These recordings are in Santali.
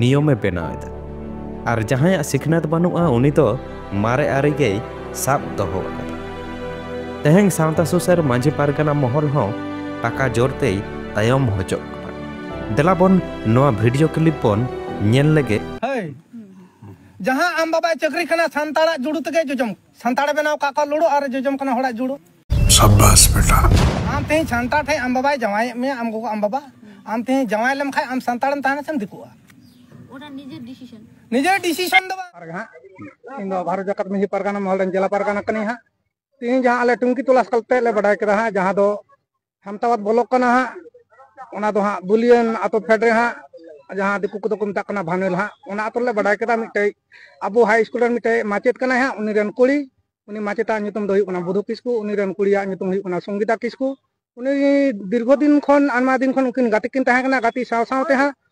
ᱱᱤᱭᱚᱢᱮ ᱵᱮᱱᱟᱣ ᱮᱫᱟ ᱟᱨ ᱡᱟᱦᱟᱸᱭᱟᱜ ᱥᱤᱠᱷᱱᱟᱹᱛ ᱵᱟᱹᱱᱩᱜᱼᱟ ᱩᱱᱤ ᱫᱚ ᱢᱟᱨᱮ ᱟᱹᱨᱤ ᱜᱮᱭ ᱥᱟᱵ ᱫᱚᱦᱚ ᱟᱠᱟᱫᱟ ᱛᱮᱦᱮᱧ ᱥᱟᱶᱛᱟ ᱥᱩᱥᱟᱹᱨ ᱢᱟᱹᱡᱷᱤ ᱯᱟᱨᱜᱟᱱᱟ ᱢᱚᱦᱚᱞ ᱦᱚᱸ ᱴᱟᱠᱟ ᱡᱳᱨ ᱛᱮᱭ ᱛᱟᱭᱚᱢ ᱦᱚᱪᱚᱜ ᱠᱟᱱᱟ ᱫᱮᱞᱟ ᱵᱚᱱ ᱱᱚᱣᱟ ᱵᱷᱤᱰᱤᱭᱳ ᱠᱞᱤᱯ ᱵᱚᱱ ᱧᱮᱞ ᱞᱮᱜᱮ ᱡᱟᱦᱟᱸ ᱟᱢ ᱵᱟᱵᱟᱭ ᱪᱟᱹᱠᱨᱤ ᱠᱟᱱᱟ ᱥᱟᱱᱛᱟᱲᱟᱜ ᱡᱩᱲᱩ ᱛᱮᱜᱮ ᱡᱚᱡᱚᱢ ᱥᱟᱱᱛᱟᱲ ᱵᱮᱱᱟᱣ ᱠᱟᱜ ᱠᱚ ᱞᱩᱲᱩ ᱟᱨ ᱡᱚᱡᱚᱢ ᱠᱟᱱᱟ ᱦᱚᱲᱟᱜ ᱡᱩᱲᱩ ᱥᱟᱵᱟᱥ ᱵᱮᱴᱟ ᱟᱢ ᱛᱮᱦᱮᱧ ᱥᱟᱱᱛᱟᱲ ᱴᱷᱮᱡ ᱟᱢ ᱵᱟᱵᱟᱭ ᱡᱟᱶᱟᱭ ᱢᱮ ᱟᱢ ᱜᱚᱜᱚ ᱟᱢ ᱵᱟᱵᱟ ᱟᱢ ᱛᱮᱦᱮᱧ ᱡᱟᱶᱟᱭ ᱞᱮᱢ ᱠᱷᱟᱡ ᱟᱢ ᱥᱟᱱᱛᱟᱲ ᱮᱢ ᱛᱟᱦᱮᱱᱟ ᱥᱮᱢ ᱫᱤᱠᱩᱜᱼᱟ ᱚᱱᱟ ᱱᱤᱡᱮᱨ ᱰᱤᱥᱤᱥᱚᱱ ᱱᱤᱡᱮᱨ ᱰᱤᱥᱤᱥᱚᱱ ᱫᱚ ᱵᱟᱝ ᱯᱟᱨᱜᱟᱱᱟ ᱤᱧ ᱫᱚ ᱵᱷᱟᱨᱚᱛ ᱡᱟᱠᱟᱛ ᱢᱟᱹᱡᱷᱤ ᱯᱟᱨᱜᱟᱱᱟ ᱢᱚᱦᱚᱞ ᱨᱮᱱ ᱡᱮᱞᱟ ᱯᱟᱨᱜᱟᱱᱟ ᱠᱟᱹᱱᱟᱹᱧ ᱦᱟᱸᱜ ᱛᱮᱦᱮᱧ ᱡᱟᱦᱟᱸ ᱟᱞᱮ ᱴᱩᱝᱠᱤ ᱛᱚᱞᱟᱥ ᱠᱟᱛᱮ ᱞᱮ ᱵᱟᱰᱟᱭ ᱠᱮᱫᱟ ᱦᱟᱸᱜ ᱡᱟᱦᱟᱸ ᱫᱚ ᱦᱟᱢᱛᱟᱣᱟᱫ ᱵᱚᱞᱚᱠ ᱠᱟᱱᱟ ᱦᱟᱸᱜ ᱚᱱᱟ ᱫᱚ ᱦᱟᱸᱜ ᱵᱩᱞᱤᱭᱟᱹᱱ ᱟᱛᱳ ᱯᱷᱮᱰ ᱨᱮ ᱦᱟᱸᱜ ᱡᱟᱦᱟᱸ ᱫᱤᱠᱩ ᱠᱚᱫᱚ ᱠᱚ ᱢᱮᱛᱟᱜ ᱠᱟᱱᱟ ᱵᱷᱟᱱᱮᱞ ᱦᱟᱸᱜ ᱚᱱᱟ ᱟᱛᱳ ᱨᱮᱞᱮ ᱵᱟᱰᱟᱭ ᱠᱮᱫᱟ ᱢᱤᱫᱴᱮᱡ ᱟᱵᱚ ᱦᱟᱭ ᱥᱠᱩᱞ ᱨᱮᱱ ᱢᱤᱫᱴᱮᱡ ᱢᱟᱪᱮᱫ ᱠᱟᱱᱟᱭ ᱦᱟᱸᱜ ᱩᱱᱤ ᱨᱮᱱ ᱠᱩᱲᱤ ᱩᱱᱤ ᱢᱟᱪᱮᱛᱟᱜ ᱧᱩᱛᱩᱢ ᱫᱚ ᱦᱩᱭᱩᱜ ᱠᱟᱱᱟ ᱵᱩᱫᱷᱩ ᱠᱤᱥᱠᱩ ᱩᱱᱤ ᱨᱮᱱ ᱠᱩᱲᱤᱭᱟᱜ ᱧᱩᱛᱩᱢ ᱦᱩᱭᱩᱜ ᱠᱟᱱᱟ ᱥᱚᱝᱜᱤᱛᱟ ᱠᱤᱥᱠᱩ ᱩᱱᱤ ᱫᱤᱨᱜᱷᱚ ᱫᱤᱱ ᱠᱷᱚᱱ ᱟᱭᱢᱟ ᱫᱤᱱ ᱠᱷᱚᱱ ᱩᱱᱠᱤᱱ ᱜᱟᱛᱮ ᱠᱤᱱ ᱛᱟᱦᱮᱸ ᱠᱟᱱᱟ ᱜᱟᱛᱮ ᱥᱟᱶ ᱥᱟᱶᱛᱮ ᱦᱟᱸᱜ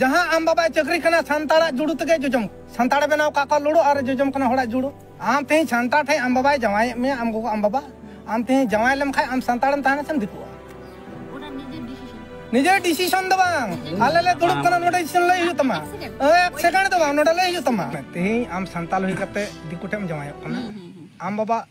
ᱡᱟᱦᱟᱸ ᱟᱢ ᱵᱟᱵᱟᱭ ᱪᱟᱹᱠᱨᱤ ᱠᱟᱱᱟ ᱥᱟᱱᱛᱟᱲᱟᱜ ᱡᱩᱲᱩ ᱛᱮᱜᱮ ᱡᱚᱡᱚᱢ ᱥᱟᱱᱛᱟᱲᱮ ᱵᱮᱱᱟᱣ ᱠᱟᱜ ᱠᱚᱣᱟ ᱞᱩᱲᱩ ᱟᱨ ᱡᱚᱡᱚᱢ ᱠᱟᱱᱟ ᱦᱚᱲᱟᱜ ᱡᱩᱲᱩ ᱟᱢ ᱛᱮᱦᱮᱧ ᱥᱟᱱᱛᱟᱲ ᱴᱷᱮᱱ ᱟᱢ ᱵᱟᱵᱟᱭ ᱡᱟᱶᱟᱭᱮᱫ ᱢᱮᱭᱟ ᱟᱢ ᱜᱚᱜᱚ ᱟᱢ ᱵᱟᱵᱟ ᱟᱢ ᱛᱮᱦᱮᱧ ᱡᱟᱶᱟᱭ ᱞᱮᱢ ᱠᱷᱟᱱ ᱟᱢ ᱥᱟᱱᱛᱟᱲᱮᱢ ᱛᱟᱦᱮᱱᱟ ᱥᱮᱢ ᱫᱤᱠᱩᱜᱼᱟ ᱱᱤᱡᱮ ᱰᱤᱥᱤᱥᱚᱱ ᱫᱚ ᱵᱟᱝ ᱟᱞᱮ ᱞᱮ ᱫᱩᱲᱩᱵ ᱠᱟᱱᱟ ᱱᱚᱰᱮ ᱰᱤᱥᱤᱥᱚᱱ ᱞᱟᱹᱭ ᱦᱩᱭᱩᱜ ᱛᱟᱢᱟ ᱮᱠ ᱥᱮᱠᱮᱱᱰ ᱫᱚ ᱵᱟᱝ ᱱᱚᱰᱮ ᱞᱟᱹᱭ ᱦᱩᱭᱩᱜ ᱛᱟᱢᱟ ᱛᱮᱦᱮᱧ ᱟᱢ ᱥᱟᱱᱛᱟᱲ ᱦᱩᱭ ᱠᱟᱛᱮ ᱫᱤᱠᱩ ᱴᱷᱮᱱ ᱡᱟᱶᱟᱭᱚᱜ ᱠᱟᱱᱟ ᱟᱢ ᱵᱟᱵᱟ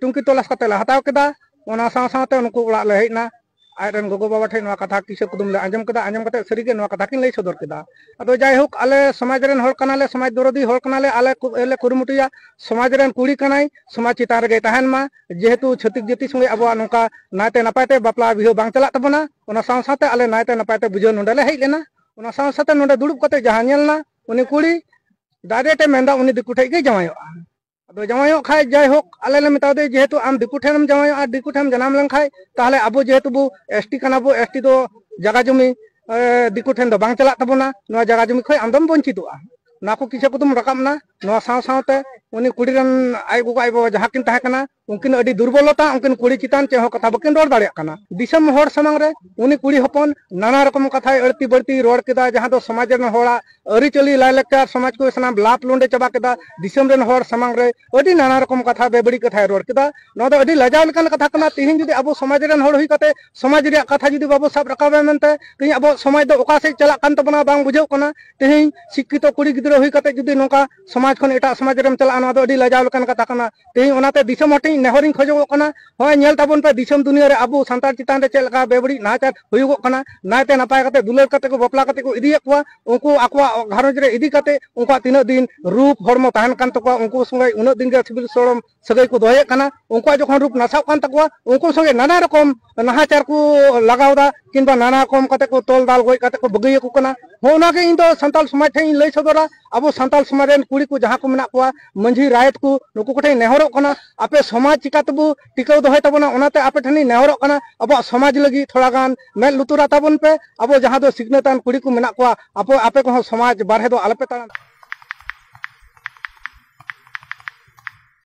ᱴᱩᱝᱠᱤ ᱛᱚᱞᱟᱥ ᱠᱟᱛᱮ ᱞᱮ ᱦᱟᱛᱟᱣ ᱠᱮᱫᱟ ᱚᱱᱟ ᱥᱟᱶ ᱥᱟᱶᱛᱮ ᱩᱱᱠᱩ ᱚᱲᱟᱜ ᱞᱮ ᱦᱮᱡ ᱮᱱᱟ ᱟᱡ ᱨᱮᱱ ᱜᱚᱜᱚ ᱵᱟᱵᱟ ᱴᱷᱮᱱ ᱱᱚᱣᱟ ᱠᱟᱛᱷᱟ ᱠᱤᱥᱟᱹ ᱠᱩᱫᱩᱢ ᱞᱮ ᱟᱸᱡᱚᱢ ᱠᱮᱫᱟ ᱟᱸᱡᱚᱢ ᱠᱟᱛᱮ ᱥᱟᱹᱨᱤᱜᱮ ᱱᱚᱣᱟ ᱠᱟᱛᱷᱟ ᱠᱤᱱ ᱞᱟᱹᱭ ᱥᱚᱫᱚᱨ ᱠᱮᱫᱟ ᱟᱫᱚ ᱡᱟᱭᱦᱳᱠ ᱟᱞᱮ ᱥᱚᱢᱟᱡᱽ ᱨᱮᱱ ᱦᱚᱲ ᱠᱟᱱᱟᱞᱮ ᱥᱚᱢᱟᱡᱽ ᱫᱚᱨᱚᱫᱤ ᱦᱚᱲ ᱠᱟᱱᱟᱞᱮ ᱟᱞᱮ ᱞᱮ ᱠᱩᱨᱩᱢᱩᱴᱩᱭᱟ ᱥᱚᱢᱟᱡᱽ ᱨᱮᱱ ᱠᱩᱲᱤ ᱠᱟᱱᱟᱭ ᱥᱚᱢᱟᱡᱽ ᱪᱮᱛᱟᱱ ᱨᱮᱜᱮ ᱛᱟᱦᱮᱱ ᱢᱟ ᱡᱮᱦᱮᱛᱩ ᱪᱷᱟᱹᱛᱤᱠ ᱡᱟᱹᱛᱤ ᱥᱚᱸᱜᱮ ᱟᱵᱚᱣᱟᱜ ᱱᱚᱝᱠᱟ ᱱᱟᱭᱛᱮ ᱱᱟᱯᱟᱭ ᱛᱮ ᱵᱟᱯᱞᱟ ᱵᱤᱦᱟᱹ ᱵᱟᱝ ᱪᱟᱞᱟᱜ ᱛᱟᱵᱚᱱᱟ ᱚᱱᱟ ᱥᱟᱶ ᱥᱟᱶᱛᱮ ᱟᱞᱮ ᱱᱟᱭᱛᱮ ᱱᱟᱯᱟᱭ ᱛᱮ ᱵᱩᱡᱷᱟᱹᱣ ᱱᱚᱰᱮ ᱞᱮ ᱦᱮᱡ ᱞᱮᱱᱟ ᱚᱱᱟ ᱥᱟᱶ ᱥᱟᱶᱛᱮ ᱱᱚᱰᱮ ᱫᱩᱲᱩᱵ ᱠᱟᱛᱮ ᱡᱟᱦᱟᱸ ᱧᱮᱞ ᱮᱱᱟ ᱩᱱᱤ ᱠᱩᱲᱤ ᱰᱟᱭᱨᱮᱠᱴ ᱮ ᱢᱮᱱᱫᱟ ᱩᱱᱤ ᱫᱤᱠᱩ ᱴᱷᱮᱡ ᱜᱮ ᱡᱟᱶᱟᱭᱚᱜᱼᱟ ᱟᱫᱚ ᱡᱟᱶᱟᱭᱚᱜ ᱠᱷᱟᱡ ᱡᱟᱭᱦᱳᱠ ᱟᱞᱮ ᱞᱮ ᱢᱮᱛᱟ ᱫᱮᱭᱟ ᱡᱮᱦᱮᱛᱩ ᱟᱢ ᱫᱤᱠᱩ ᱴᱷᱮᱱᱮᱢ ᱡᱟᱶᱟᱭᱚᱜᱼᱟ ᱟᱨ ᱫᱤᱠᱩ ᱴᱷᱮᱱ ᱡᱟᱱᱟᱢ ᱞᱮᱱᱠᱷᱟᱡ ᱛᱟᱦᱚᱞᱮ ᱟᱵᱚ ᱡᱮᱦᱮᱛᱩ ᱵᱚ ᱮᱥ ᱴᱤ ᱠᱟᱱᱟ ᱵᱚ ᱮᱥ ᱴᱤ ᱫᱚ ᱡᱟᱜᱟ ᱡᱚᱢᱤ ᱫᱤᱠᱩ ᱴᱷᱮᱱ ᱫᱚ ᱵᱟᱝ ᱪᱟᱞᱟᱜ ᱛᱟᱵᱚᱱᱟ ᱱᱚᱣᱟ ᱡᱟᱜᱟ ᱡᱚᱢᱤ ᱠᱷᱚᱡ ᱟᱢ ᱫᱚᱢ ᱵᱚᱧᱪᱤᱛᱚᱜᱼᱟ ᱱᱚᱣᱟ ᱠᱚ ᱠᱤᱪᱷᱩ ᱠᱚᱫᱚᱢ ᱨᱟᱠᱟᱵ ᱮᱱᱟ ᱱᱚᱣᱟ ᱥᱟᱶ ᱥᱟᱶᱛᱮ ᱩᱱᱤ ᱠᱩᱲᱤ ᱨᱮᱱ ᱟᱡ ᱜᱚᱜᱚ ᱟᱡ ᱵᱟᱵᱟ ᱡᱟᱦᱟᱸ ᱠᱤᱱ ᱛᱟᱦᱮᱸ ᱠᱟᱱᱟ ᱩᱱᱠᱤᱱ ᱟᱹᱰᱤ ᱫᱩᱨᱵᱚᱞᱚᱛᱟ ᱩᱱᱠᱤᱱ ᱠᱩᱲᱤ ᱪᱮᱛᱟᱱ ᱪᱮᱫ ᱦᱚᱸ ᱠᱟᱛᱷᱟ ᱵᱟᱹᱠᱤᱱ ᱨᱚᱲ ᱫᱟᱲᱮᱭᱟᱜ ᱠᱟᱱᱟ ᱫᱤᱥᱚᱢ ᱦᱚᱲ ᱥᱟᱢᱟᱝ ᱨᱮ ᱩᱱᱤ ᱠᱩᱲᱤ ᱦᱚᱯᱚᱱ ᱱᱟᱱᱟ ᱨᱚᱠᱚᱢ ᱠᱟᱛᱷᱟᱭ ᱟᱹᱲᱛᱤ ᱵᱟᱹᱲᱛᱤ ᱨᱚᱲ ᱠᱮᱫᱟ ᱡᱟᱦᱟᱸ ᱫᱚ ᱥᱚᱢᱟᱡᱽ ᱨᱮᱱ ᱦᱚᱲᱟᱜ ᱟᱹᱨᱤᱪᱟᱹᱞᱤ ᱞᱟᱭᱞᱟᱠᱪᱟᱨ ᱥᱚᱢᱟᱡᱽ ᱠᱚ ᱥᱟᱱᱟᱢ ᱞᱟᱯ ᱞᱩᱸᱰᱮ ᱪᱟᱵᱟ ᱠᱮᱫᱟ ᱫᱤᱥᱚᱢ ᱨᱮᱱ ᱦᱚᱲ ᱥᱟᱢᱟᱝ ᱨᱮ ᱟᱹᱰᱤ ᱱᱟᱱᱟ ᱨᱚᱠᱚᱢ ᱠᱟᱛᱷᱟ ᱵᱮᱵᱟᱹᱲᱤᱡ ᱠᱟᱛᱷᱟᱭ ᱨᱚᱲ ᱠᱮᱫᱟ ᱱᱚᱣᱟ ᱫᱚ ᱟᱹᱰᱤ ᱞᱟᱡᱟᱣ ᱞᱮᱠᱟᱱ ᱠᱟᱛᱷᱟ ᱠᱟᱱᱟ ᱛᱤᱦᱤᱧ ᱡᱩᱫᱤ ᱟᱵᱚ ᱥᱚᱢᱟᱡᱽ ᱨᱮᱱ ᱦᱚᱲ ᱦᱩᱭ ᱠᱟᱛᱮ ᱥᱚᱢᱟᱡᱽ ᱨᱮᱭᱟᱜ ᱠᱟᱛᱷᱟ ᱡᱩᱫᱤ ᱵᱟᱵᱚ ᱥᱟᱵ ᱨᱟᱠᱟᱵᱟ ᱢᱮᱱᱛᱮ ᱛᱤᱦᱤᱧ ᱟᱵᱚ ᱥᱚᱢᱟᱡᱽ ᱫᱚ ᱚᱠᱟ ᱥᱮᱫ ᱪᱟᱞᱟᱜ ᱠᱟᱱ ᱛᱟᱵᱚᱱᱟ ᱵᱟᱝ ᱵᱩᱡᱷᱟᱹᱜ ᱠᱟᱱᱟ ᱛᱤᱦᱤᱧ ᱥᱤᱠᱠᱷᱤᱛᱚ ᱠᱩᱲᱤ ᱜᱤᱫᱽᱨᱟᱹ ᱦᱩᱭ ᱠᱟᱛᱮ ᱡᱩᱫᱤ ᱱᱚᱝᱠᱟ ᱥᱚᱢᱟᱡᱽ ᱠᱷᱚᱱ ᱮᱴᱟᱜ ᱥᱚᱢᱟᱡᱽ ᱨᱮᱢ ᱪᱟᱞᱟᱜᱼᱟ ᱱᱚᱣᱟ ᱫᱚ ᱟᱹᱰᱤ ᱞᱟᱡᱟᱣ ᱞᱮᱠᱟᱱ ᱠᱟᱛᱷᱟ ᱠᱟᱱᱟ ᱛᱮᱦᱮᱧ ᱚᱱᱟᱛᱮ ᱫᱤᱥᱚᱢ ᱦᱚᱲ ᱴᱷᱮᱱ ᱱᱮᱦᱚᱨᱤᱧ ᱠᱷᱚᱡᱚᱜᱚᱜ ᱠᱟᱱᱟ ᱦᱚᱸᱜᱼᱚᱭ ᱧᱮᱞ ᱛᱟᱵᱚᱱ ᱯᱮ ᱫᱤᱥᱚᱢ ᱫᱩᱱᱤᱭᱟᱹ ᱨᱮ ᱟᱵᱚ ᱥᱟᱱᱛᱟᱲ ᱪᱮᱛᱟᱱ ᱨᱮ ᱪᱮᱫ ᱞᱮᱠᱟ ᱵᱮᱵᱟᱹᱲᱤᱡ ᱱᱟᱦᱟᱪᱟᱨ ᱦᱩᱭᱩᱜᱚᱜ ᱠᱟᱱᱟ ᱱᱟᱭᱛᱮ ᱱᱟᱯᱟᱭ ᱠᱟᱛᱮ ᱫᱩᱞᱟᱹᱲ ᱠᱟᱛᱮ ᱠᱚ ᱵᱟᱯᱞᱟ ᱠᱟᱛᱮ ᱠᱚ ᱤᱫᱤᱭᱮᱫ ᱠᱚᱣᱟ ᱩᱱᱠᱩ ᱟᱠᱚᱣᱟᱜ ᱜᱷᱟᱨᱚᱸᱡᱽ ᱨᱮ ᱤᱫᱤ ᱠᱟᱛᱮ ᱩᱱᱠᱩᱣᱟᱜ ᱛᱤᱱᱟᱹᱜ ᱫᱤᱱ ᱨᱩᱯ ᱦᱚᱲᱢᱚ ᱛᱟᱦᱮᱱ ᱠᱟᱱ ᱛᱟᱠᱚᱣᱟ ᱩᱱᱠᱩ ᱥᱚᱸᱜᱮ ᱩᱱᱟᱹᱜ ᱫᱤᱱ ᱜᱮ ᱥᱤᱵᱤᱞ ᱥᱚᱲᱚᱢ ᱥᱟᱹᱜᱟᱹᱭ ᱠᱚ ᱫᱚᱦᱚᱭᱮᱫ ᱠᱟᱱᱟ ᱩᱱᱠᱩᱣᱟᱜ ᱡᱚᱠᱷᱚᱱ ᱨᱩᱯ ᱱᱟᱥᱟᱜ ᱠᱟᱱ ᱛᱟᱠᱚᱣᱟ ᱩᱱᱠᱩ ᱥᱚᱸᱜᱮ ᱱᱟᱱᱟ ᱨᱚᱠᱚᱢ ᱱᱟᱦᱟᱪᱟᱨ ᱠᱚ ᱞᱟᱜᱟᱣᱫᱟ ᱠᱤᱝᱵᱟ ᱱᱟᱱᱟ ᱨᱚᱠᱚᱢ ᱠᱟᱛᱮ ᱠᱚ ᱛᱚᱞ ᱫᱟᱞ ᱜᱚᱡ ᱠᱟᱛᱮ ᱠᱚ ᱵᱟᱹᱜᱤᱭ ᱟᱠᱚ ᱠᱟᱱᱟ ᱦᱚᱸ ᱚᱱᱟᱜᱮ ᱤᱧ ᱫᱚ ᱥᱟᱱᱛᱟᱞ ᱥᱚᱢᱟᱡᱽ ᱴᱷᱮᱱ ᱤᱧ ᱞᱟᱹᱭ ᱥᱚᱫᱚᱨᱟ ᱟᱵᱚ ᱥᱟᱱᱛᱟᱞ ᱥᱚᱢᱟᱡᱽ ᱨᱮᱱ ᱠᱩᱲᱤ ᱠᱚ ᱡᱟᱦᱟᱸ ᱠᱚ ᱢᱮᱱᱟᱜ ᱠᱚᱣᱟ ᱢᱟᱹᱡᱷᱤ ᱨᱟᱭᱮᱛ ᱠᱚ ᱱᱩᱠᱩ ᱠᱚᱴᱷᱮᱱ ᱱᱮᱦᱚᱨᱚᱜ ᱠᱟᱱᱟ ᱟᱯᱮ ᱥᱚᱢᱟᱡᱽ ᱪᱤᱠᱟ ᱛᱮᱵᱚ ᱴᱤᱠᱟᱹᱣ ᱫᱚᱦᱚᱭ ᱛᱟᱵᱚᱱᱟ ᱚᱱᱟᱛᱮ ᱟᱯᱮ ᱴᱷᱮᱱ ᱤᱧ ᱱᱮᱦᱚᱨᱚᱜ ᱠᱟᱱᱟ ᱟᱵᱚᱣᱟᱜ ᱥᱚᱢᱟᱡᱽ ᱞᱟᱹᱜᱤᱫ ᱛᱷᱚᱲᱟ ᱜᱟᱱ ᱢᱮᱫ ᱞᱩᱛᱩᱨᱟ ᱛᱟᱵᱚᱱ ᱯᱮ ᱟᱵᱚ ᱡᱟᱦᱟᱸ ᱫᱚ ᱥᱤᱠᱷᱱᱟᱹᱛᱟᱱ ᱠᱩᱲᱤ ᱠᱚ ᱢᱮᱱᱟᱜ ᱠᱚᱣᱟ ᱟᱯᱮ ᱟᱯᱮ ᱠᱚᱦᱚᱸ ᱥᱚᱢᱟᱡᱽ ᱵᱟᱨᱦᱮ ᱫᱚ ᱟᱞᱚᱯᱮ ᱛᱟᱲᱟᱢ